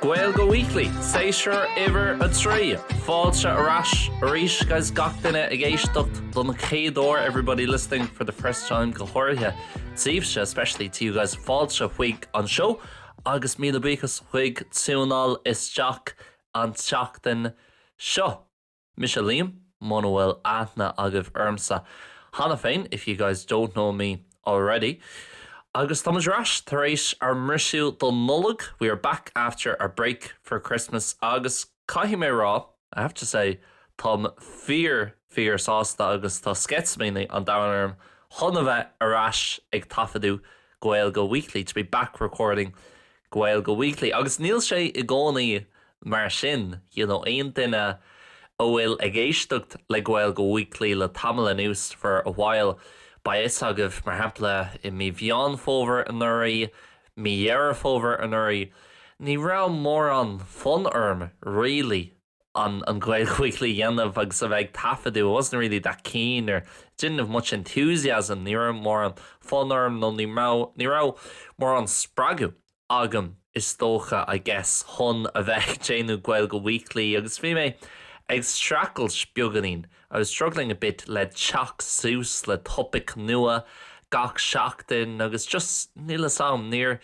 Gaeilge Weekly, Séasúr Uimhir 3, Fáilte ar ais arís guys gach duine ag éisteacht don chéad uair everybody listening for the first time go háirithe daoibhse especially to you guys fáilte chuig an seó agus míle buíochas as ucht tiúnáil isteach an tseachtain seo. Mise Liam, muna bhfuil aithne agaibh ormsa cheana féin, if you guys don't know me already. Agus tá muid ar ais tar éis ár mbriseadh don Nollaig, we are back after our break for Christmas agus caithfidh mé a rá, I have to say, táim fíor, fíor sásta agus tá sceitimíní an domhain orm chun a bheith ar ais ag taifeadadh Gaeilge Weekly, to be back recording Gaeilge Weekly. Agus níl sé i gcónaí mar sin, you know. Aon duine a bhfuil ag éisteacht le Gaeilge Weekly le tamall anuas, for a while, beidh a fhios agaibh, mar shampla, i mí Mheán Fómhair anuraidh, mí Dheireadh Fómhair anuraidh, ní raibh mórán fonn orm, really, an Gaeilge Weekly a dhéanamh agus a bheith ag taifeadadh, I wasn't really that keen or didn't have much enthusiasm, ní raibh mórán fonn orm nó ní raibh, ní raibh mórán spreagadh agam is dócha, I guess, chun a bheith ag déanamh Gaeilge Weekly agus bhí mé ag streachailt beagáinín I was struggling a bit le teacht suas le topaic nua gach seachtain agus just níl fhios a'm, níor,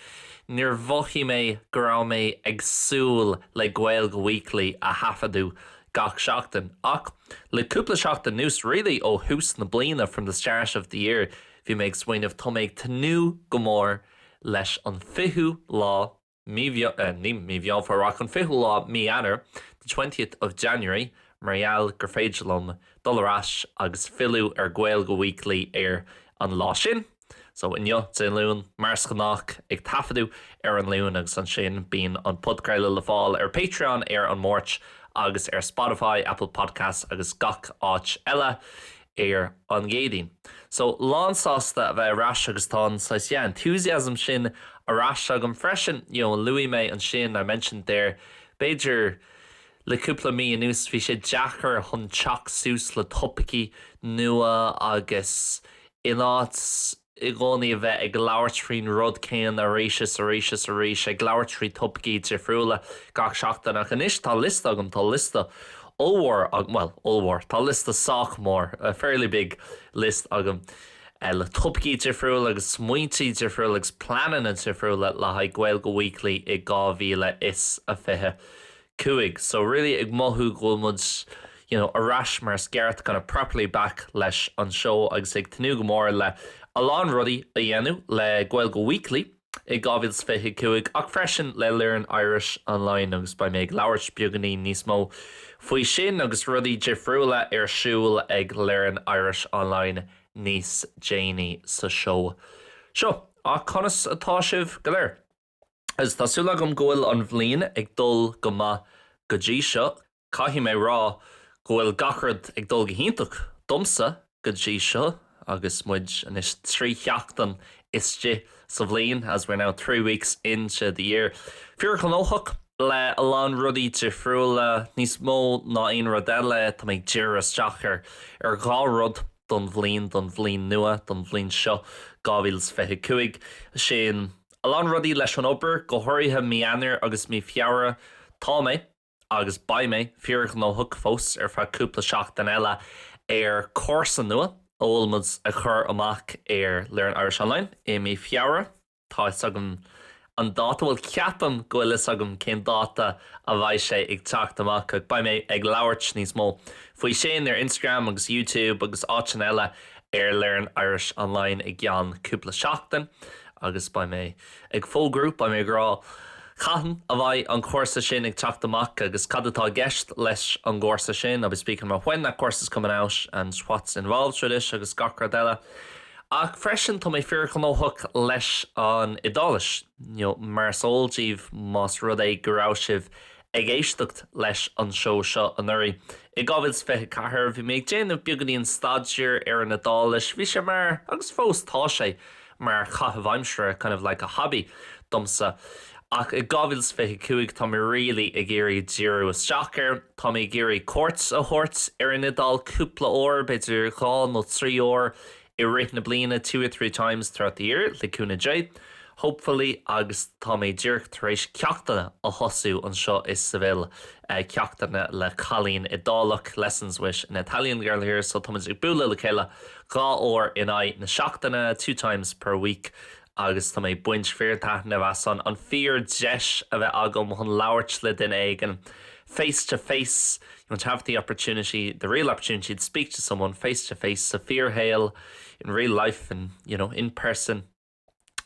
níor mhothaigh mé go raibh mé ag súil le Gaeilge Weekly a thaifeadadh gach seachtain ach le cúpla seachtain anuas, really ó thús na bliana, from the start of the year, bhí mé ag smaoineamh tá mé ag tnúth go mór leis an 20ú lá. Mí Mheán, ní mí Mheán Fómhair ach an fichiú lá mí Eanáir, the twentieth of January, mar gheall gur féidir liom dul ar ais agus filleadh ar Gaeilge Weekly ar an lá sin. So, inniu, Dé Luain, mar is gnách ag taifeadadh ar an Luan agus ansin bíonn an podchraoladh le fáil ar Patreon ar an Máirt agus ar Spotify, Apple Podcasts agus gach áit eile. ar an gCéadaoin. So, lánsásta a bheith ar ais agus tá an saghas, yeah, enthusiasm sin ar ais agam freisin. You know, luaigh mé ansin, I mentioned there, b'fhéidir le cúpla mí anuas bhí sé deacair chun teacht suas le topaicí nua agus in áit, i gcónaí a bheith ag labhairt faoin rud céanna arís is arís is arís, ag labhairt faoi thopaicí difriúla gach seachtain. Ach anois tá liosta agam, tá liosta ollmhór agam, bhuel, ollmhór, tá liosta sách mór, a fairly big list, agam le topaicí difriúla agus smaointe difriúla agus pleananna difriúla le haghaidh Gaeilge Weekly i 2020. 5. So really ag mothú go bhfuil muid you know ar ais mar is gceart kind of properly back leis an seó agus ag tnúth go mór le a lán rudaí a dhéanamh le Gaeilge Weekly i 2025 ach freisin le Learn Irish Online agus beidh mé ag labhairt beagainín níos mó faoi sin agus rudaí difriúla ar siúl ag Learn Irish Online níos déanaí sa seó seo. Ach conas atá sibh go léir? Tá súil agam go bhfuil an bhliain ag dul go maith go dtí seo. Caithfidh mé rá go bhfuil gach rud ag dul go hiontach domsa go dtí seo agus muid anois trí sheachtain istigh sa bhliain, as we're now three weeks into the year. Fíor ghnóthach le a lán rudaí difriúla, níos mó ná aon rud eile tá mé ag díriú isteach ar ar dhá rud don bhliain, don bhliain nua, don bhliain seo 2025, sin a lán rudaí leis an obair, go háirithe mí Eanáir agus mí Feabhra. Tá mé, agus beidh mé, fíorghnóthach fós ar feadh cúpla seachtain eile ar chúrsa nua a bhfuil muid a chur amach ar Learn Irish Online i mí Feabhra. Tá fhios agam an dáta, bhuel ceapaim go bhfuil fhios agam cén dáta a bheidh sé ag teacht amach ach beidh mé ag labhairt níos mó faoi sin ar Instagram agus YouTube agus áiteanna eile ar Learn Irish Online i gceann cúpla seachtain agus beidh mé ag fógrú, beidh mé ag rá cathain a bheidh an cúrsa sin ag teacht amach agus cad atá i gceist leis an gcúrsa sin, I'll be speaking about when that course is coming out and what's involved with it agus gach rud eile. Ach freisin, tá mé fíorghnóthach leis an Iodáilis, you know, mar is eol díbh más rud é go raibh sibh Ag éisteacht leis an seó seo anuraidh, i 2024, bhí mé ag déanamh beagainín staidéir ar an Iodáilis, bhí sé mar, agus fós tá sé, mar chaitheamh aimsire, kind of like a hobby, domsa. Ach i 2025, tá mé really ag iarraidh díriú isteach ar. Tá mé ag iarraidh cuairt a thabhairt ar an Iodáil cúpla uair, b'fhéidir dhá nó trí uair i rith na bliana two or three times throughout the year le cúnamh Dé, hopefully agus tá mé díreach tar éis ceachtanna a thosú anseo i Seville, ceachtanna le cailín Iodálach, lessons with an Italian girl here, so táimid ag bualadh le chéile dhá uair in aghaidh na seachtaine, two times per week, agus tá mé ag baint fíortaitnimh as an fíordheis a bheith agam chun labhairt le duine éigin face to face you know to have the opportunity, the real opportunity to speak to someone face to face sa fíorshaol in real life and you know in person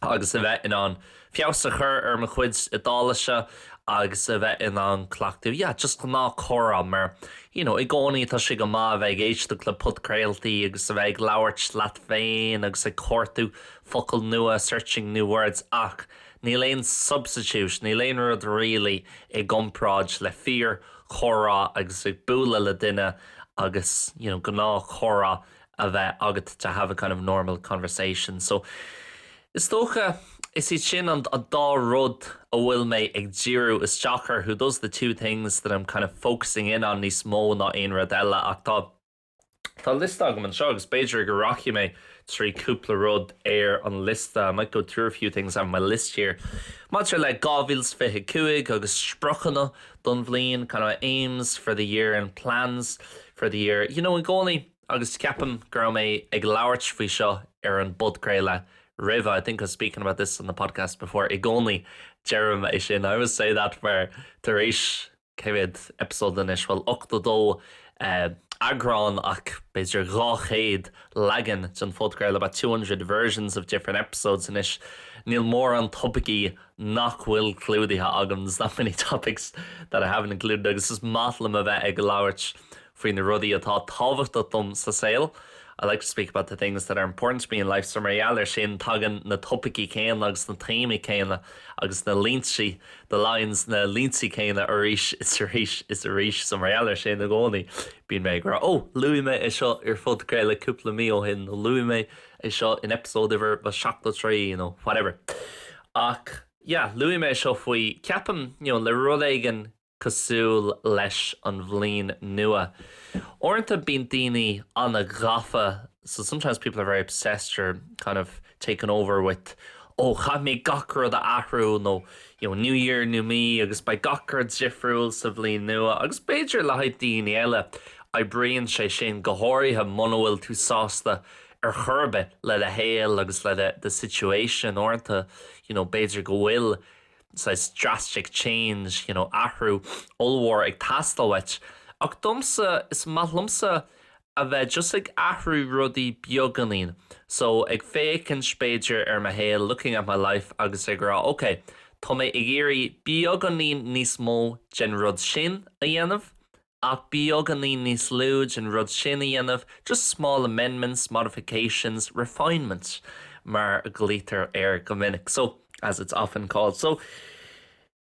agus a bheith in ann feabhas a chur ar mo chuid Iodáilise agus a bheith in ann cleachtú yeah, just gnáthchomhrá mar you know, i gcónaí tá sé go maith a bheith ag éisteacht le podchraoltaí agus a bheith ag labhairt leat féin agus ag cuartú focail nua searching new words ach níl aon substitute níl aon rud really i gcomparáid le fíor chomhrá agus ag bualadh le duine agus you know gnáth comhrá a bheith agat to have a kind of normal conversation so is dócha is iad sin an an dá rud a bhfuil mé ag díriú isteach orthu those are the two things that I'm kind of focusing in on níos mó ná aon rud eile ach tá Tá liosta agam anseo agus b'fhéidir go rachaidh mé trí cúpla rud ar an liosta, I might go through a few things on my list here. Maidir le 2025 agus spriocanna don bhliain, kind of aims for the year and plans for the year. You know, i gcónaí agus ceapaim go raibh mé ag labhairt faoi seo ar an bpodchraoladh roimhe, I think I was speaking about this on the podcast before. I gcónaí deirim é sin, I always say that mar tar éis. 100 eipeasóid anois, bhuel, 82 eagrán ach b'fhéidir 200 leagan den phodcraoladh, about two hundred versions of different episodes anois. Níl mórán topaicí nach bhfuil clúdaithe agam, there's not many topics that I haven't included, agus is maith liom a bheith ag labhairt faoi na rudaí atá tábhachtach dom sa saol I like to speak about the things that are important to me in life so mar gheall ar sin tagann na topaicí céanna agus na téamaí céanna agus na línte the lines na línte céanna arís is arís so mar gheall ar sin i gcónaí bíonn mé ag rá oh luaigh mé é seo ar phodchraoladh cúpla mí ó shin luaigh mé é seo in episode uimhir a 73 you know whatever ach yeah luaigh mé seo faoi ceapaim you know le rud éigin cosúil leis an bhliain nua. Uaireanta bíonn daoine an-ghafa so sometimes people are very obsessed or kind of taken over with ó caithfidh mé gach rud a athrú nó you know new year, new me agus beidh gach rud difriúil sa bhliain nua agus b'fhéidir le haghaidh daoine eile oibríonn sé sin, go háirithe muna bhfuil tú sásta ar chor ar bith le do shaol agus le do situation. Uaireanta you know b'fhéidir go bhfuil. saghas drastic change, you know athrú ollmhór ag teastáil uait, ach domsa, is maith liomsa a bheith just ag athrú rudaí beagáinín, so ag féachaint b'fhéidir ar mo shaol, looking at my life agus ag rá ok, tá mé ag iarraidh beagáinín níos mó den rud sin a dhéanamh, ach beagáinín níos lú den rud sin a dhéanamh just small amendments, modifications, refinement mar a glaoitear air go minic so as it's often called. So,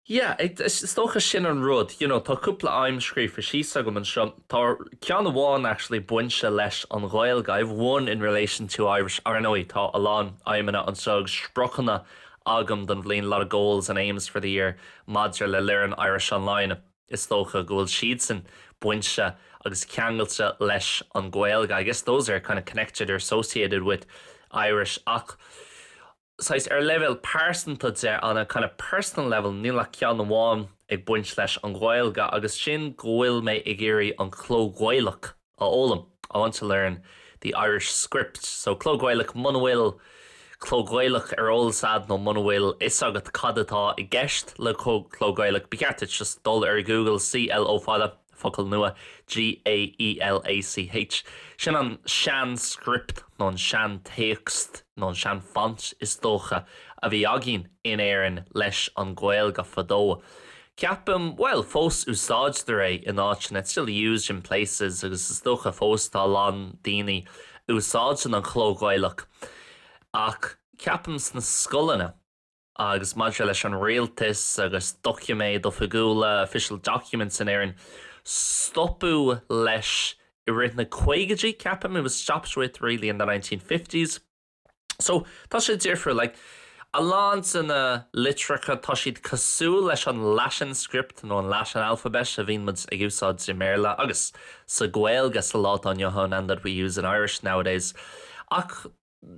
yeah, is dócha sin an rud, you know, tá cúpla aidhm scríofa síos agam anseo, tá ceann amháin actually bainte leis an Ghaeilge, I have one in relation to Irish, ar ndóigh tá a lán aidhmeanna agus spriocanna agam don bhliain, a lot of goals and aims for the year maidir le Learn Irish Online. Is dócha go bhfuil siadsan bainte agus ceangailte leis an Ghaeilge, I guess those are kind of connected or associated with Irish ach saghas ar leibhéal pearsanta de, on a kind of personal level, níl ach ceann amháin ag baint leis an Ghaeilge agus sin go bhfuil mé ag iarraidh an cló Gaelach a fhoghlaim, I want to learn the Irish script. So Cló Gaelach Muna bhfuil Cló Gaelach ar eolas agat nó muna bhfuil fhios agat cad atá i gceist le Cló Gaelach, ba cheart duit just dul ar Google C-L-O fada, focal nua, G-a-e-l-a-c-h. Sin an sean-script nó an sean-téacs nó an sean-font is dócha a bhí againn in Éirinn leis an Ghaeilge fadó. Ceapaim, bhuel, fós úsáidtear é in áiteanna, it's still used in places, agus is dócha fós tá a lán daoine a úsáideann an chló Gaelach, ach ceapaim sna scoileanna agus maidir leis an rialtas agus doiciméid oifigiúla, official documents in Éirinn, stopadh leis i rith na caogaidí, ceapaim, it was stopped with really in the 1950s. So, tá sé difriúil, like, a lán de na litreacha, tá siad cosúil leis an Latin script nó an Latin alphabet a bhíonn muid ag úsáid i mBéarla agus sa Gaeilge sa lá atá inniu ann and that we use in Irish nowadays ach,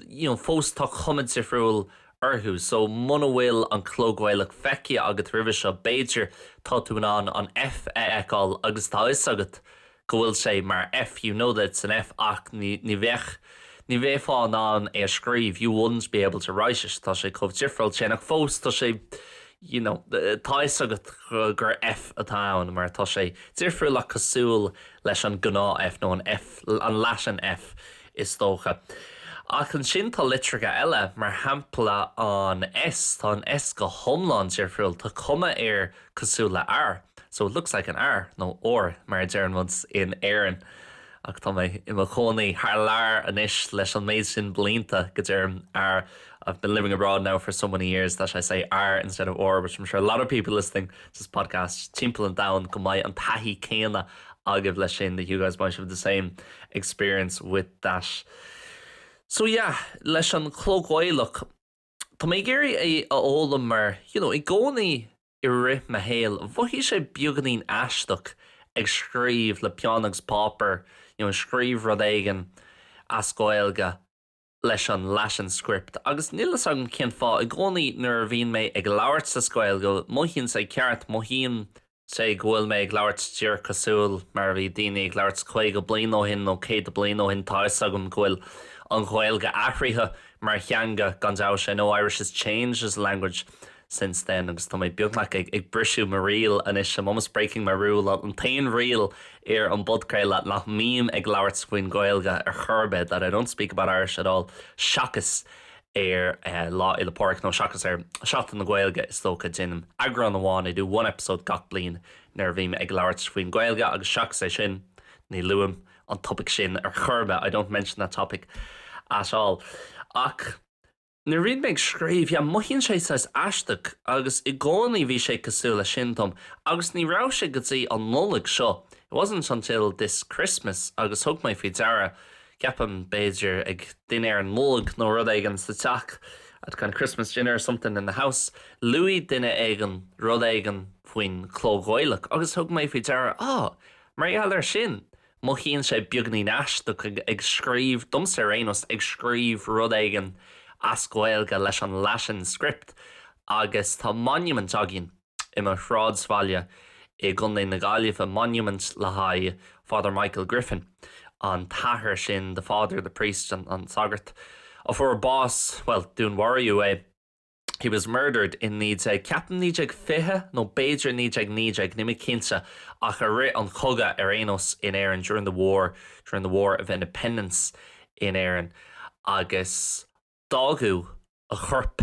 you know, fós tá cuma difriúil orthu so muna bhfuil an cló Gaelach feicthe agat roimhe seo, b'fhéidir tá tú in ann an F a fheiceáil agus tá 'fhios agat go bhfuil sé mar F, you know that it's an F ach ní bheadh, ní bheifeá in ann é a scríobh, you wouldn't be able to write it, tá sé chomh difriúil sin ach fós tá sé, you know, tá 'fhios agat gur F atá ann mar tá sé difriúil ach cosúil leis an gnáth F nó an F, an Latin F is dócha. Ach ansin tá litreacha eile, mar shampla an S, tá an S go hiomlán difriúil, tá cuma air cosúil le R, so it looks like an R, nó ór mar a deireann muid in Éirinn. Ach tá mé i mo chónaí thar lear anois leis an méid sin blianta go deirim R, I've been living abroad now for so many years that I say R instead of ór, which I'm sure a lot of people listening to this podcast timpeall an domhain go mbeidh an taithí céanna agaibh leis sin, that you guys might have the same experience with that. So yeah, leis an cló Gaelach, Tá mé ag iarraidh é a fhoghlaim mar, you know, i gcónaí i rith mo shaoil, mhothaigh sé beagáinín aisteach ag scríobh le peann agus páipéar, you know, scríobh rud éigin as Gaeilge leis an Latin script agus níl fhios agam cén fáth, i gcónaí nuair a bhíonn mé ag labhairt sa Gaeilge, mothaíonn sé ceart, mothaíonn. Cé go bhfuil mé ag labhairt díreach cosúil mar a bhí daoine ag labhairt 50 bliain ó shin nó 100 bliain ó shin, tá a fhios agam go bhfuil an Ghaeilge athraithe mar theanga, gan dabht. I know Irish has changed as a language since then agus tá mé beagnach ag briseadh mo riail anois, I'm almost breaking my rule, an t-aon riail ar an bpodchraoladh nach mbím ag labhairt faoin Ghaeilge ar chor ar bith, that I don't speak about Irish at all, seachas ar Lá Fhéile Pádraig nó seachas ar Seachtain na Gaeilge is dócha. Déanaim eagrán amháin, I do one episode, gach bliain nuair a bhím ag labhairt faoin Ghaeilge agus seachas é sin ní luaim an topaic sin ar chor ar bith, I don't mention that topic at all. Ach nuair a bhím ag scríobh, yeah, mothaíonn sé saghas aisteach agus i gcónaí bhí sé cosúil leis sin dom agus ní raibh sé go dtí an Nollaig seo, it wasn't until this Christmas agus thug mé faoi deara, ceapaim, b'fhéidir ag dinnéar Nollag nó rud éigin sa teach at kind of Christmas dinner or something in the house luaigh duine éigin rud éigin faoin cló Ghaelach agus thug mé faoi deara, ah, mar gheall air sin, mothaíonn sé beagainín aisteach ag ag scríobh, domsa ar aon nós, ag scríobh rud éigin as Gaeilge leis an Latin script agus tá monument againn. i mo shráidbhaile i gContae na Gaillimhe monument le haghaidh Father Michael Griffin, an t-athair sin the father, the priest, an sagart, a fuair bás, bhuel, dúnmharaíodh é, he was murdered, in 19, ceapaim 1920 nó b'fhéidir 1919, níl mé cinnte, ach i rith an chogadh ar aon nós in Éirinn, during the war, during the War of Independence in Éirinn agus. fágadh a chorp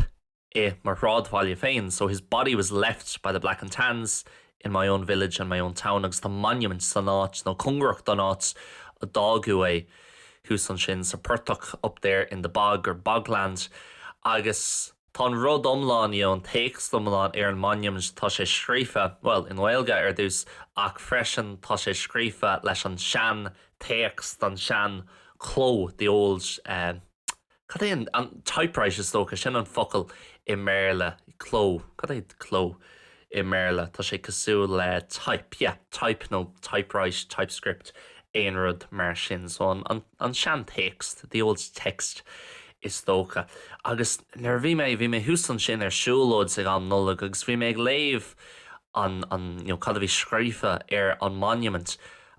i mo shráidbhaile féin so his body was left by the Black and Tans in my own village and my own town agus tá monument san áit nó cóngarach don áit ar fágadh é thuas ansin sa phortach up there in the bog or bogland agus tá an rud iomlán you know an téacs iomlán ar an monument tá sé scríofa bhuel i nGaeilge ar dtús ach freisin tá sé scríofa leis an sean téacs an sean chló the old eh. Cad é an typewrite is dócha, sin an focal i mBéarla, cló, cad é cló i mBéarla, tá sé cosúil le type, yeah, type nó typewrite, typescript, aon rud mar sin, so an seantéacs, the old text is dócha. Agus nuair a bhí mé, bhí mé thuas ansin ar siúlóid ag am Nollag agus bhí mé ag léamh an, an, you know, cad a bhí scríofa ar an monument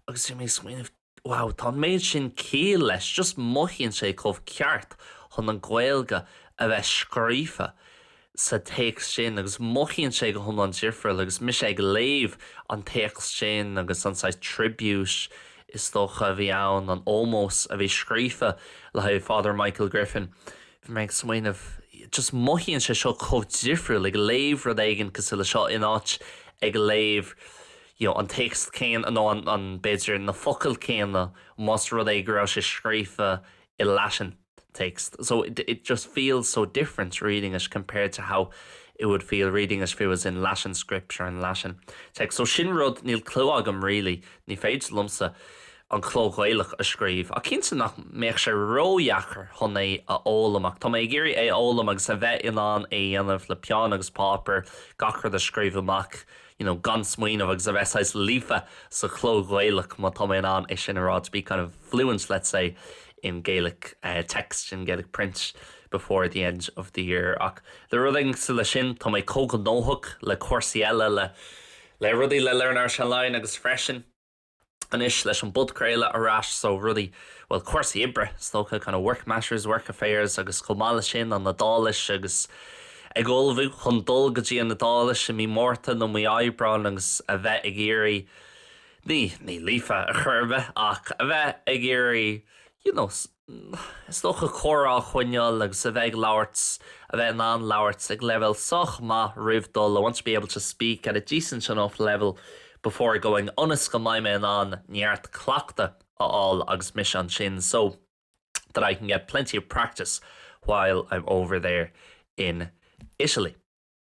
agus bhí mé ag smaoineamh, Wow, tá an méid sin céille leis, just mothaíonn sé chomh ceart chun an Ghaeilge a bheith scríofa sa téacs sin agus mothaíonn sé go hiomlán difriúil agus mise ag léamh an téacs sin agus an saghas tribute is dócha a bhí ann, an ómós a bhí scríofa le haghaidh Father Michael Griffin. Bhí mé ag smaoineamh, just mothaíonn sé seo chomh difriúil ag léamh rud éigin cosúil leis seo in áit ag léamh, you know an téacs céanna nó an an b'fhéidir na focail céanna más rud é go raibh sé scríofa i Latin text so it it just feels so different reading it compared to how it would feel reading it if it was in Latin scripture and Latin text so sin rud níl clue agam really ní féidir liomsa an cló Gaelach a scríobh ach cinnte nach mbeadh sé ródheacair chun é a fhoghlaim ach tá mé ag iarraidh é a fhoghlaim agus a bheith in ann é a dhéanamh le peann agus páipéar gach rud a scríobh amach you you know gan smaoineamh agus a bheith saghas líofa sa chló Ghaelach má tá mé in ann é sin a rá to be kind of fluent let's say in Gaelic uh, text in Gaelic print before the end of the year ach le rud éigin cosúil le sin tá mé chomh gnóthach le cúrsaí eile le le rudaí le Learn Irish Online agus freisin Anois leis an bpodchraoladh ar ais so rudaí, bhuel cúrsaí oibre is dócha, kind of work matters, work affairs agus chomh maith leis sin an Iodáilis agus ag ullmhú chun dul go dtí an Iodáilis i mí Márta nó mí Aibreáin agus a bheith ag iarraidh, ní, ní Líofa ar chor ar bith ach a bheith ag iarraidh you know, is dócha, comhrá a choinneáil agus a bheith ag labhairt, a bheith in ann labhairt ag leibhéal sách maith roimh dhul, I want to be able to speak at a decent enough level before going, ionas go mbeidh mé in ann neart cleachtaidh a fháil agus mise ansin, so that I can get plenty of practice while I'm over there in Italy.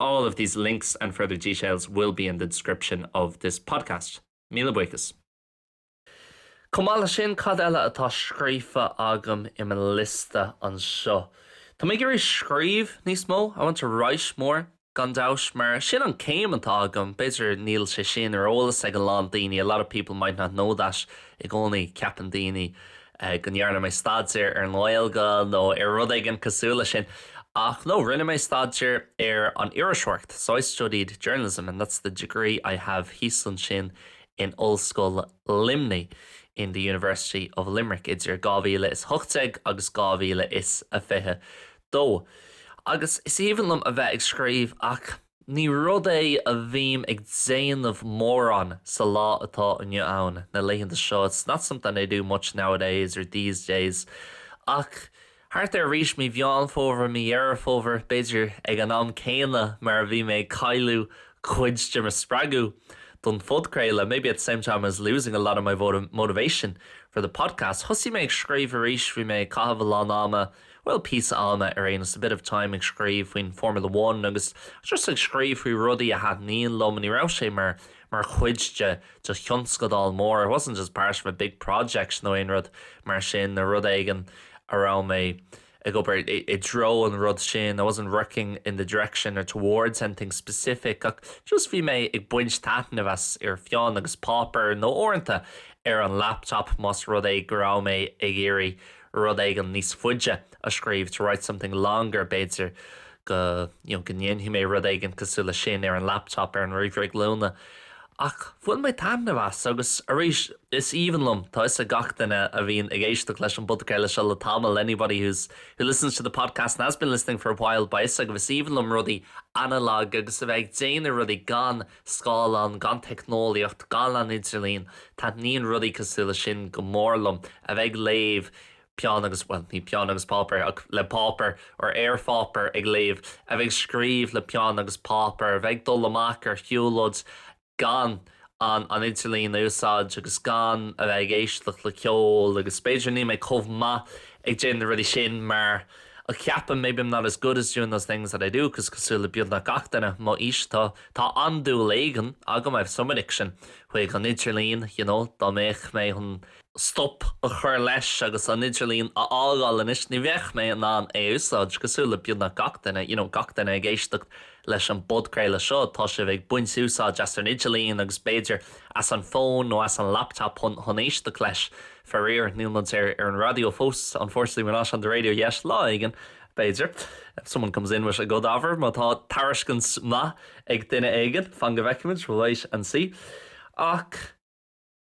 All of these links and further details will be in the description of this podcast. Míle buíochas. Chomh maith leis sin, cad eile atá scríofa agam i mo liosta anseo? Tá mé ag iarraidh scríobh níos mó, I want to write more, gan dabht, mar sin an céim atá agam. B'fhéidir níl sé sin ar eolas ag a lán daoine, a lot of people might not know that, i gcónaí ceapann daoine go ndearna mé staidéar ar an nGaeilge nó ar rud éigin cosúil leis sin ach no, rinne mé staidéar ar an iriseoireacht so I studied journalism and that's the degree I have thíos ansin in Ollscoil Luimnigh in the University of Limerick idir 2018 agus 2022. Agus is aoibhinn liom a bheith ag scríobh ach. Ní rud é a bhím ag déanamh mórán sa lá atá inniu ann, na laethanta seo, it's not something I do much nowadays or these days. Ach thart ar arís mí Mheán Fómhair, mí Dheireadh Fómhair, b'fhéidir, ag an am céanna mar a bhí mé ag cailleadh cuid de mo spreagadh don phodchraoladh, maybe at the same time as losing a lot of my motivation for the podcast, thosaigh mé ag scríobh arís. Bhí mé ag caitheamh a lán ama. Bhuel, píosa ama ar aon nós, a bit of time ag scríobh faoin Formula One agus just ag scríobh faoi rudaí a thaitníonn liom. Ní raibh sé mar, mar chuid de, de thionscadal mór, it wasn't just part of a big project nó aon rud mar sin nó rud éigin a raibh mé ag obair i, i dtreo an rud sin, I wasn't working in the direction or towards anything specific ach just bhí mé ag baint taitnimh as, ar pheann agus páipéar nó uaireanta ar an laptop más rud é go raibh mé ag iarraidh rud éigin níos faide a scríobh, to write something longer, b'fhéidir go, you know, go ndéanfaidh mé rud éigin cosúil leis sin ar an laptop, ar an ríomhaire glúine ach bhain mé taitneamh as agus arís is aoibhinn liom, tá 'fhios ag gach duine a bhíonn ag éisteacht leis an bpodcraoladh seo le tamall, anybody who's, who listens to the podcast and has been listening for a while, beidh 'fhios agaibh, is aoibhinn liom rudaí analog agus a bheith ag déanamh rudaí gan scáileán, gan teicneolaíocht, gan an idirlíon, taitníonn rudaí cosúil leis sin go mór liom, a bheith ag léamh peann agus, bhuel, ní peann agus páipéar, ach le páipéar, ar, ar pháipéar ag léamh, a bheith ag scríobh le peann agus páipéar, a bheith ag dul amach ar shiúlóid gan an idirlíon a úsáid agus gan a bheith ag éisteacht le ceol agus b'fhéidir níl mé chomh maith ag déanamh na rudaí sin mar a cheapaim, maybe I'm not as good at doing those things that I do, 'cause cosúil le beagnach gach duine mo aois, tá. Tá andúil éigin agam I've some addiction chuig an idirlíon, you know, dá mbeadh mé chun stop a chur leis agus an idirlíon a fhágáil anois, ní bheadh mé in ann é a úsáid, cosúil le beagnach gach duine, you know, gach duine ag éisteacht leis an bpodchraoladh seo, tá sibh ag baint úsáid as an idirlíon agus b'fhéidir as an fón nó as an laptop chun éisteacht leis, faraor, níl muid ar an raidió fós, unfortunately we're not on the radio yet, lá éigin, b'fhéidir. If someone comes in with a good offer, má tá tairiscint maith ag duine éigin, fan go bhfeicfimid, we'll wait and see. Ach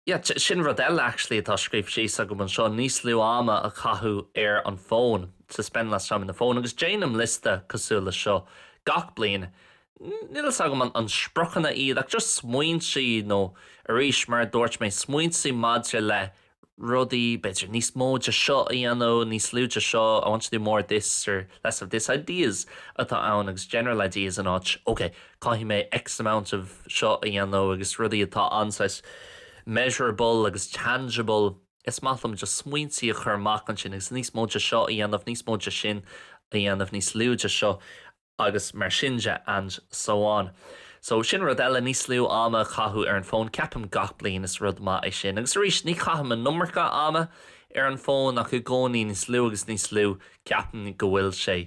yeah, sin rud eile actually atá scríofa síos agam anseo, níos lú ama a chaitheamh ar an bhfón, to spend less time on the phone, agus déanaim liosta cosúil leis seo gach bliain, níl fhios agam an spriocanna iad ach just smaointe nó arís mar a dúirt mé, smaointe maidir le rudaí, b'fhéidir níos mó de seo a dhéanamh, níos lú de seo, I want to do more of this or less of this, ideas atá ann agus general ideas in áit ok, caithfidh mé X amount of seo a dhéanamh agus rudaí atá ann saghas measurable agus tangible, is maith liom just smaointe a chur amach ansin agus níos mó de seo a dhéanamh, níos mó de sin a dhéanamh, níos lú de seo. agus mar sin de and so on so sin rud eile níos lú ama a chaitheamh ar an bhfón ceapaim gach bliain is rud maith é sin agus arís ní chaithim an iomarca ama ar an bhfón ach i gcónaí níos lú agus níos lú ceapaim go bhfuil sé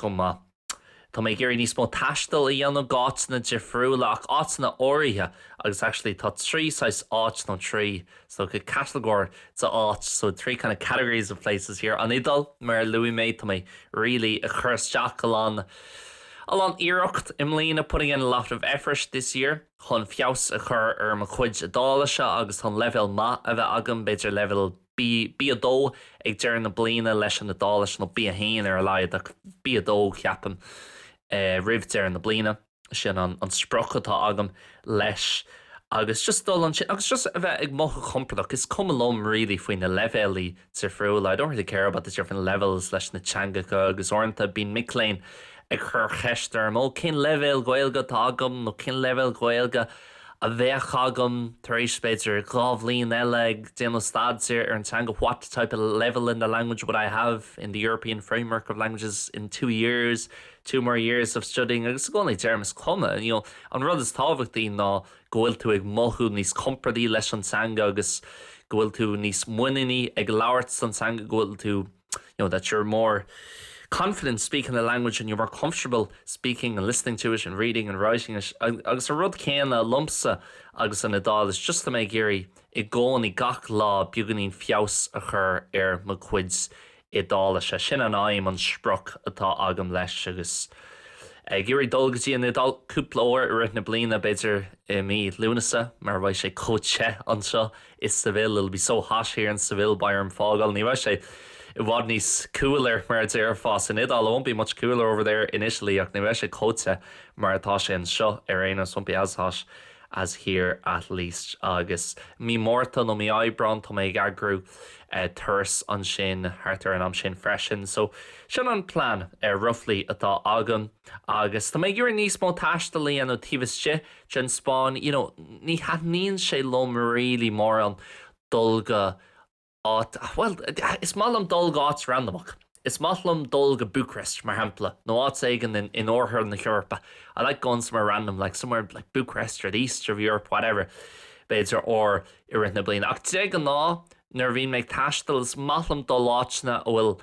go maith tá mé ag iarraidh níos mó taistil a dhéanamh go áiteanna difriúla ach áiteanna áirithe agus actually tá trí saghas áit nó trí so go catagóirí d'áit so three kind of categories of places here an Iodáil mar a luaigh mé tá mé really ag cur isteach a lán a lán iarracht i mbliana putting in a lot of effort this year chun feabhas a chur ar mo chuid Iodáilise agus chun leibhéal maith a bheith agam b'fhéidir leibhéal B2 ag deireadh na bliana leis an Iodáilis nó B1 ar a laghad ach B2 ceapaim roimh deireadh na bliana. sin an sprioc atá agam leis agus just dul ansin agus just a bheith ag mothú compordach is cuma liom really faoi na leibhéalaí difriúla I don't really care about the different levels leis na teangacha agus uaireanta bíonn mic léinn ag cur cheist orm ó cén leibhéal Gaeilge atá agam nó cén leibhéal Gaeilge a bheadh agam tar éis b'fhéidir dhá bhliain eile ag déanamh staidéar ar an teanga what type of level in the language would I have in the European framework of languages in two years two more years of studying agus i gcónaí deirim is cuma you know an rud is tábhachtaí ná go bhfuil tú ag mothú níos compordaí leis an teanga agus go bhfuil tú níos muiníní ag labhairt sa teanga go bhfuil tú you know that you're more confident speaking the language and you're more comfortable speaking and listening to it and reading and writing it agus an rud céanna liomsa agus an Iodáilis just tá mé ag iarraidh i gcónaí gach lá beaganín feabhas a chur ar mo chuid Iodáilise. Sin an aidhm, an sprioc atá agam leis agus ag iarraidh dul go dtí an Iodáil cúpla uair i rith na bliana, b'fhéidir i mí Lúnasa mar bheidh sé chomh te anseo i Seville, it'll be so hot here in Seville, beidh orm fágáil, ní bheidh sé i bhfad níos cooler mar a déarfá san Iodáil, it won't be much cooler over there in Italy ach ní bheidh sé chomh te mar atá sé anseo ar aon nós, it won't be as hot as here at least. Agus mí Márta nó mí Aibreáin tá mé ag eagrú. turas ansin thart ar an am sin freisin. So, sin an plean, roughly, atá agam. Agus tá mé ag iarraidh níos mó taistil a dhéanamh taobh istigh den Spáinn. You know, ní thaitníonn sé liom really mórán dul go áit, bhuel, is maith liom dul go áit randamach. Is maith liom dul go Bucharest, mar shampla, nó áit éigin in oirthear na hEorpa, I like going somewhere random like somewhere like Bucharest or the east of Europe, whatever, b'fhéidir uair i rith na bliana. Ach de ghnáth, nuair a bhíonn mé ag taisteal, is maith liom dul áiteanna a bhfuil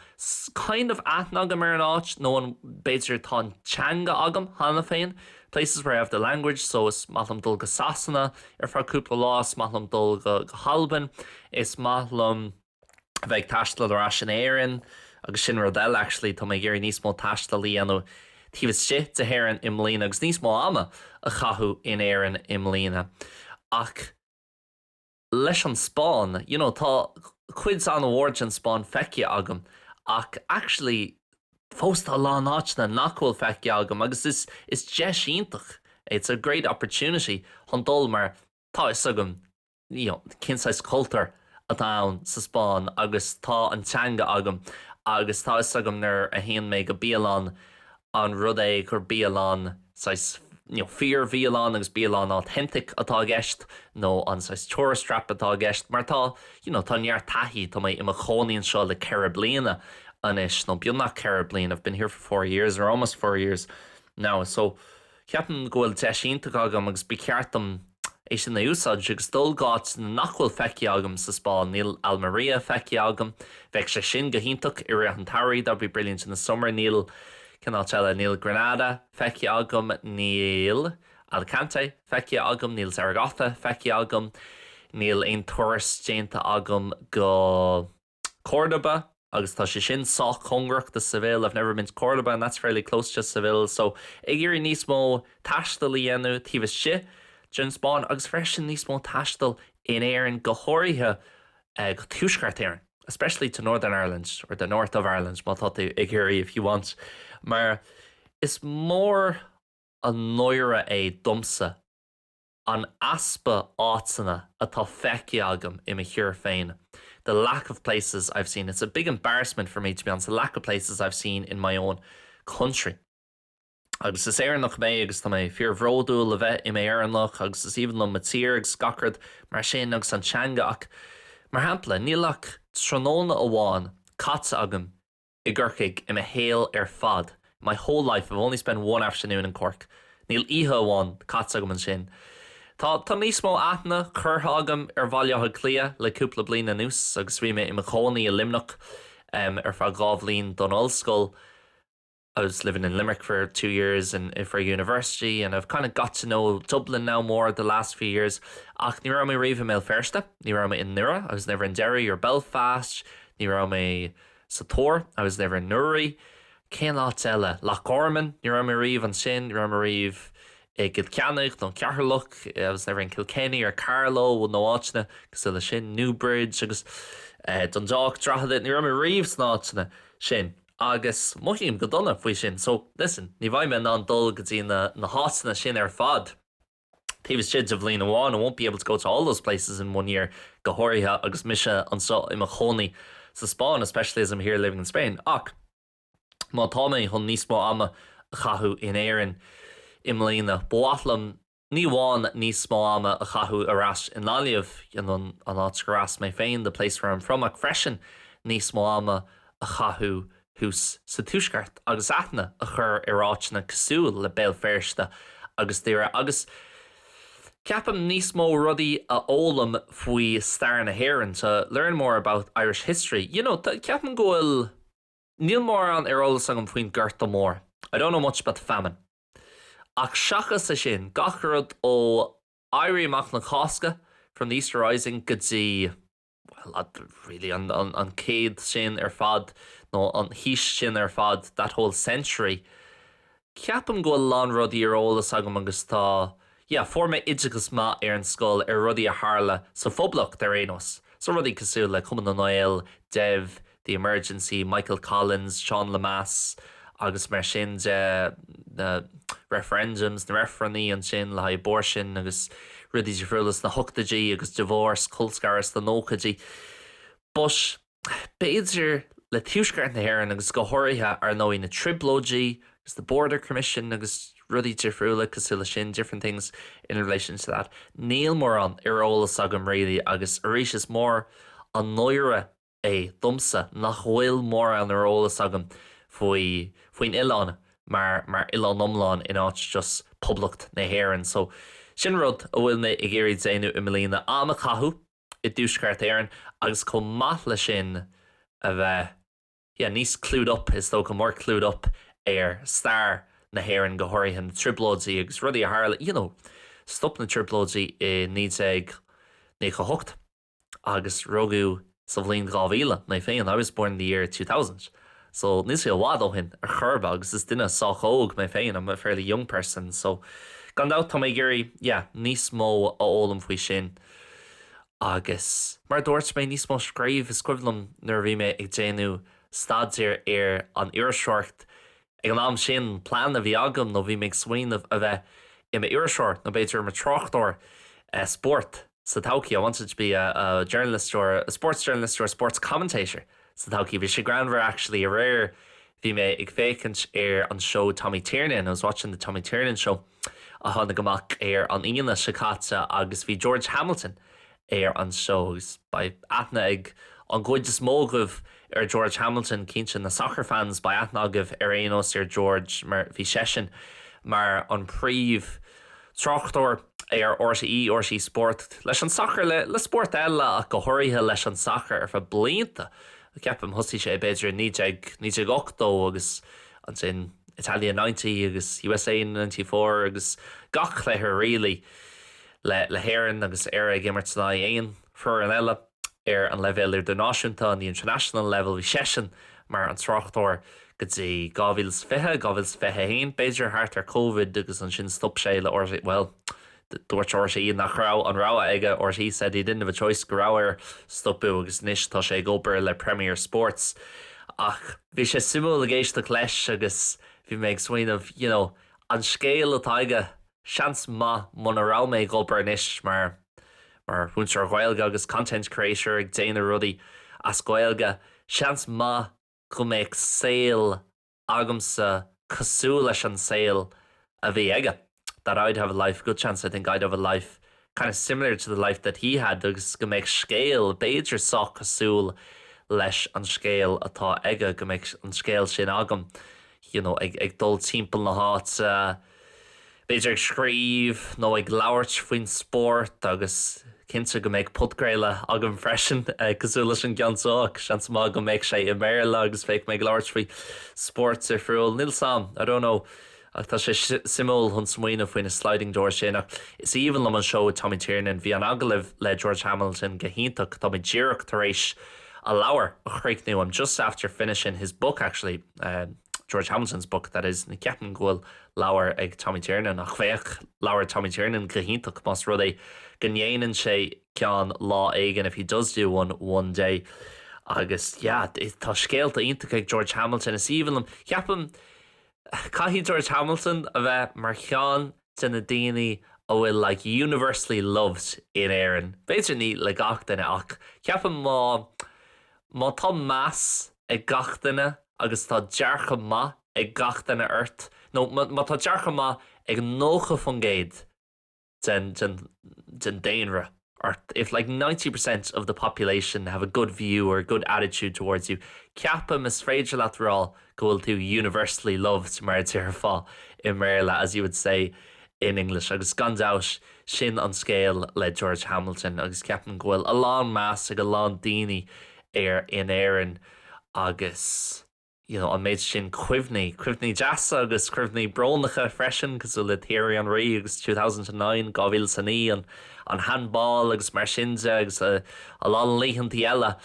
kind of aithne agam ar an áit nó an b'fhéidir atá an teanga agam cheana féin, places where I have the language, so is maith liom dul go Sasana ar feadh cúpla lá, is maith liom dul go hAlbain, is maith liom. a bheith ag taisteal ar ais in Éirinn agus sin rud eile actually tá mé ag iarraidh níos mó taistil a dhéanamh taobh istigh d'Éirinn i mbliana agus níos mó ama a chaitheamh in Éirinn i mbliana ach leis an Spáinn you know tá cuid an-mhór den Spáinn feicthe agam ach actually fós tá a lán áiteanna nach bhfuil feicthe agam agus is is deis iontach é it's a great opportunity chun dul mar tá 'fhios agam you know cén saghas cultúr atá ann sa Spáinn agus tá an teanga agam agus tá fhios agam nuair a théann mé go bialann an rud é gur bialann saghas you know fíorbhialann agus bialann authentic atá i gceist nó an saghas tourist trap atá i gceist mar tá you know tá neart taithí tá mé i mo chónaí anseo le ceithre bliana anois nó beagnach ceithre bliana I've been here for four years or almost four years now so Ceapaim go bhfuil deis iontach agam agus ba cheart dom é sin a úsáid agus dul go háiteanna nach bhfuil feicthe agam sa Spáinn. Níl Almería feicthe agam. Bheadh sé sin go hiontach i rith an tsamhraidh, that would be brilliant in the summer. Níl, cén áit eile? Níl Granada feicthe agam. Níl Alicante feicthe agam. Níl Zaragoza feicthe agam. Níl aon turas déanta agam go. Córdoba, agus tá sé sin sách cóngarach do Seville, I've never been to Córdoba and that's fairly close to Seville, so ag iarraidh níos mó taistil a dhéanamh taobh istigh den Spáinn agus freisin níos mó taistil in Éirinn, go háirithe go Tuaisceart Éireann, especially to Northern Ireland or the North of Ireland má tá tú ag iarraidh if you want, mar is mór an náire é domsa. an easpa áiteanna atá feicthe agam i mo thír féin the lack of places I've seen, it's a big embarrassment for me to be honest, the lack of places I've seen in my own country. Agus is Éireannach mé agus tá mé fíorbhródúil a bheith i m'Éireannach agus is aoibhinn liom mo thír agus gach rud mar sin agus an teanga ach, mar shampla, níl ach tráthnóna amháin caite agam i gCorcaigh i mo shaol ar fad my whole life, I've only spent one afternoon in Cork níl oíche amháin caite agam ansin Tá tá níos mó aithne curtha agam ar Bhaile Átha Cliath le cúpla bliain anuas agus bhí mé i mo chónaí i Luimneach um ar feadh dhá bhliain don ollscoil I was living in Limerick for two years for university and I've kind of got to know Dublin now more the last few years ach ní raibh mé riamh i mBéal Feirste, ní raibh mé i nDoire I was never in Derry or Belfast, ní raibh mé. sa Tor I was never in Newry, cén áit eile? Loch Garman, ní raibh mé riamh ansin, ní raibh mé riamh i gCill Chainnigh nó Ceatharlach, I was never in Kilkenny or Carlow, nó áiteanna cosúil leis sin, Newbridge agus Dundalk, Drogheda, ní raibh mé riamh sna áiteanna sin agus mothaím go dona faoi sin so listen, ní bheidh mé in ann dul go dtí na háiteanna sin ar fad. taobh istigh de bhliain amháin, I won't be able to go to all those places in one year, go háirithe agus mise anseo i mo chónaí sa Spáinn, especially as I'm here living in Spain, ach má tá mé chun níos mó ama a chaitheamh in Éirinn i mbliana, ba mhaith liom ní amháin níos mó ama a chaitheamh ar ais i nGaillimh, an áit gur as mé féin, the place where I'm from, ach freisin níos mó ama a chaitheamh thuas sa Tuaisceart agus aithne a chur ar áiteanna cosúil le Béal Feirste agus Doire agus, ceapaim, níos mó rudaí a fhoghlaim faoi stair na hÉireann, to learn more about Irish history. You know, ceapaim go bhfuil, níl mórán ar eolas agam faoin Gorta Mór, I don't know much about the famine. Ach seachas é sin, gach rud ó Éirí Amach na Cásca, from the Easter Rising, go dtí. well, really, an céad sin ar fad, nó an aois sin ar fad, that whole century. Ceapaim go bhfuil a lán rudaí ar eolas agam agus tá, yeah, fuair mé oideachas maith ar an scoil ar rudaí a tharla sa Phoblacht ar aon nós, so rudaí cosúil le Cumann na nGael, Dev, The Emergency, Michael Collins, Seán Lemass agus mar sin de, na referendums, na reifrinn ansin le haghaidh abortion agus rudaí difriúla sna hochtoidí agus divorce, colscaradh sna nóchaidí. But b'fhéidir le Tuaisceart na hÉireann agus go háirithe, ar ndóigh, na trioblóidí agus the Border Commission agus rudaí difriúla cosúil leis sin, different things in relation to that, níl mórán ar eolas agam really agus arís is mór an náire é domsa nach bhfuil mórán ar eolas agam faoi faoin oileán mar mar oileán iomlán in áit just Poblacht na hÉireann. So sin rud a bhfuil mé ag iarraidh déanamh i mbliana, am a chaitheamh i dTuaisceart Éireann agus chomh maith leis sin a bheith yeah níos clued up is dócha, more clued up ar stair na hÉireann go háirithe na Trioblóidí agus rudaí a tharla you know stop na Trioblóidí i 1998. agus rugadh sa bhliain 2000 mé féin I was born in the year two thousand so níl sé i bhfad ó shin ar chor ar bith agus is duine sách óg mé féin I'm a fairly young person so gan dabht tá mé ag iarraidh yeah níos mó a fhoghlaim faoi sin agus mar a dúirt mé níos mó scríobh is cuimhin liom nuair a bhí mé ag déanamh staidéar ar an iriseoireacht ag an am sin plean a bhí agam nó bhí mé ag smaoineamh a bheith i m'iriseoir nó b'fhéidir i mo thráchtóir eh, spórt. sa todhchaí, I wanted to be a journalist or a sports journalist or a sports commentator sa todhchaí. Bhí sé greannmhar actually aréir bhí mé ag féachaint ar an seó Tommy Tiernan, I was watching the Tommy Tiernan show a tháinig amach ar an Aoine seo caite agus bhí George Hamilton ar an seó agus beidh aithne ag an gcuid is mó agaibh ar George Hamilton, cinnte na soccer fans beidh aithne agaibh ar aon nós ar George mar bhí seisean mar an príomh Tráchtóir ar RTÉ, RTÉ Sport, leis an sacar, le le spóirt eile ach go háirithe leis an sacar ar feadh blianta, ceapaim. Thosaigh sé b'fhéidir i naoi déag, naoi déag ochtó agus ansin Italia ninety agus USA ninety four agus gach cluiche really le le hÉirinn agus Éire ag imirt in aghaidh aon foireann eile. ar an leibhéal idirnáisiúnta, on the international level, bhí seisean mar an tráchtóir go dtí 2020, 2021 b'fhéidir, thart ar Covid agus ansin stop sé le RTÉ, bhuel dúirt RTÉ nach raibh an rogha aige, RTÉ said he didn't have a choice, go raibh air stopadh agus anois tá sé ag obair le Premier Sports ach bhí sé suimiúil ag éisteacht leis agus bhí mé ag smaoineamh you know an scéal atá aige Seans maith muna raibh mé ag obair anois mar mar mhúinteoir Ghaeilge agus content creator ag déanamh rudaí as Gaeilge, seans maith go mbeadh saol agamsa cosúil leis an saol a bhí aige, that I'd have a life, a good chance, I think, I'd have a life. kind of similar to the life that he had agus go mbeadh scéal b'fhéidir sách cosúil leis an scéal atá aige, go mbeadh an scéal sin agam you know ag ag dul timpeall na háite b'fhéidir ag scríobh nó ag labhairt faoin spórt agus cinnte go mbeadh podchraoladh agam freisin cosúil leis an gceann seo ach seans maith go mbeadh sé i mBéarla agus bheadh mé ag labhairt faoi spóirt difriúil, níl 's 'am, I don't know. Ach tá sé suimiúil chun smaoineamh faoi na sliding doors sin. Ach is aoibhinn liom an seó Tommy Tiernan. Bhí an agallamh le George Hamilton go hiontach. Tá mé díreach tar éis a leabhar a chríochnú, I'm just after finishing his book actually, George Hamilton's book, that is. Ní cheapaim go bhfuil leabhar ag Tommy Tiernan. Ach bheadh leabhar Tommy Tiernan go hiontach más rud é go ndéanann sé ceann lá éigin, if he does do one one day. Agus yeah, tá scéalta iontach ag George Hamilton. Is aoibhinn liom, ceapaim, Caithfidh George Hamilton a bheith mar cheann de na daoine a bhfuil like universally loved in Éirinn. B'fhéidir ní le gach duine ach ceapaim má má tá meas ag gach duine agus tá dearcadh maith ag gach duine ort nó má tá dearcadh maith ag 90% den daonra ort, if like ninety percent of the population have a good view or a good attitude towards you, ceapaim, is féidir leat a rá go bhfuil tú universally loved, mar a déarfá i mBéarla, as you would say in English. Agus gan dabht, sin an scéal le George Hamilton agus ceapaim go bhfuil a lán meas ag a lán daoine air in Éirinn agus. you know an méid sin cuimhní, cuimhní deasa agus cuimhní brónacha freisin cosúil le Thierry Henry agus Two Thousand and Nine, Dhá Mhíle 's a Naoi, an an Handball agus mar sin de agus a lán laethantaí eile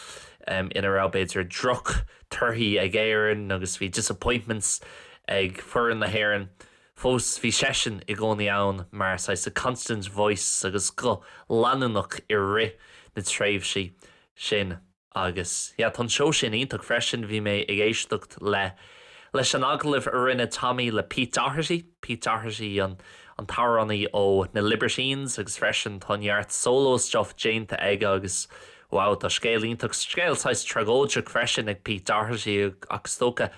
em ina raibh b'fhéidir droch torthaí ag Éirinn agus bhí disappointments ag foireann na hÉireann fós bhí seisean i gcónaí ann mar saghas constant voice agus guth leanúnach i rith na tréimhsí sin. Agus, yeah, tá an seó sin iontach freisin. Bhí mé ag éisteacht le, leis an agallamh a rinne Tommy le Pete Doherty, Pete Doherty an, an t-amhránaí ó na Libertines agus freisin tá neart solo stuff déanta aige agus wow, tá scéal iontach, scéal saghas tragóideach freisin ag Pete Doherty ach is dócha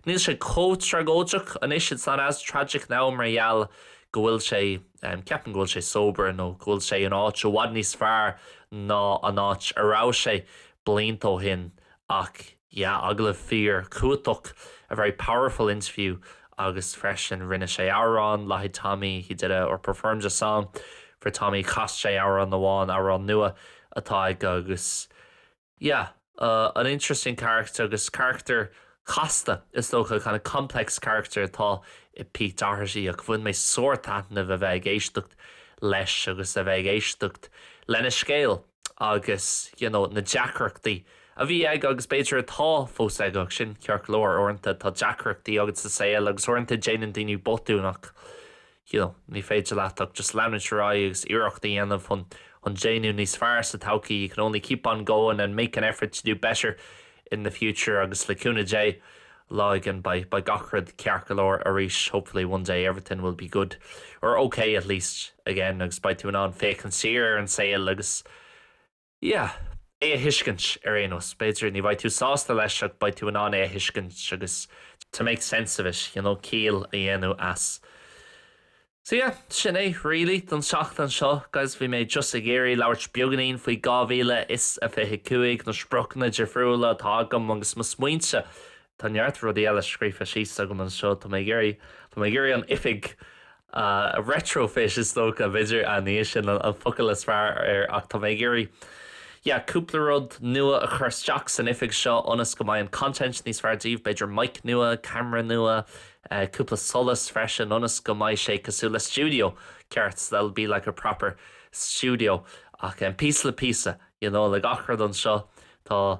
níl sé chomh tragóideach anois, it's not as tragic now mar gheall go bhfuil sé. Ceapaim go bhfuil sé sober nó go bhfuil sé in áit i bhfad níos fearr ná an áit a raibh sé blianta ó shin ach yeah agallamh fíorchumhachtach, a very powerful interview agus freisin rinne sé amhrán le haghaidh Tommy, he did a, or performed a song for Tommy, chas sé amhrán amháin, amhrán nua atá aige agus. Yeah, an interesting character agus carachtar casta is dócha, kind of complex character atá i Pete Doherty ach bhain mé sárthaitneamh a bheith ag éisteacht leis agus a bheith ag éisteacht lena scéal agus you know na deacrachtaí a bhí aige agus b'fhéidir atá fós aige ach sin ceart go leor, uaireanta tá deacrachtaí agat sa saol agus uaireanta déanann daoine botúin ach you know ní féidir leat ach just leanúint ar aghaidh agus iarracht a dhéanamh chun chun déanamh níos fearr sa todhchaí you can only keep on going and make an effort to do better in the future agus le cúnamh Dé lá éigin beidh beidh gach rud ceart go leor arís hopefully one day everything will be good or okay at least again agus beidh tú in ann féachaint siar ar an saol agus yeah. é a thuiscint, ar aon nós. B'fhéidir, ní bheidh tú sásta leis ach beidh tú in ann é a thuiscint agus to make sense of it, you know, ciall a dhéanamh as. So yeah, sin é really don seachtain seo, guys. Bhí mé just ag iarraidh labhairt beagainín faoi 2025, na spriocanna difriúla atá agam agus mo smaointe Tá neart rudaí eile scríofa síos agam anseo. Tá mé ag iarraidh, tá mé ag iarraidh an oifig a retrofit is dócha, b'fhéidir a, ní sin an focal is fearr air ach tá mé ag iarraidh yeah cúpla rud nua a chur isteach san oifig seo ionas go mbeidh an content níos fearr daoibh, b'fhéidir mic nua, camera nua, cúpla solas freisin ionas go mbeidh sé cosúil le stiúideo ceart, so that'll be like a proper studio ach píosa le píosa you know le gach rud anseo tá.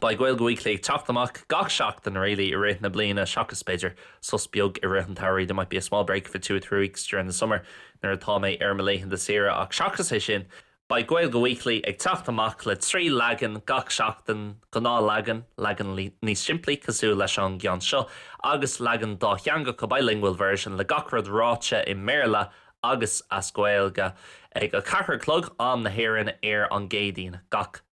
Beidh Gaeilge Weekly ag teacht amach gach seachtain really i rith na bliana seachas b'fhéidir sos beag i rith an tsamhraidh, there might be a small break for two or three weeks during the summer nuair atá mé ar mo laethanta saoire ach seachas é sin beidh Gaeilge Weekly ag teacht amach le trí leagan gach seachtain, gnáthleagan, leagan níos simplí cosúil leis an gceann seo, agus leagan dátheangach, a bilingual version, le gach rud ráite i mBéarla agus as Gaeilge ag a ceathair a chlog, am na hÉireann, ar an gCéadaoin. Gach.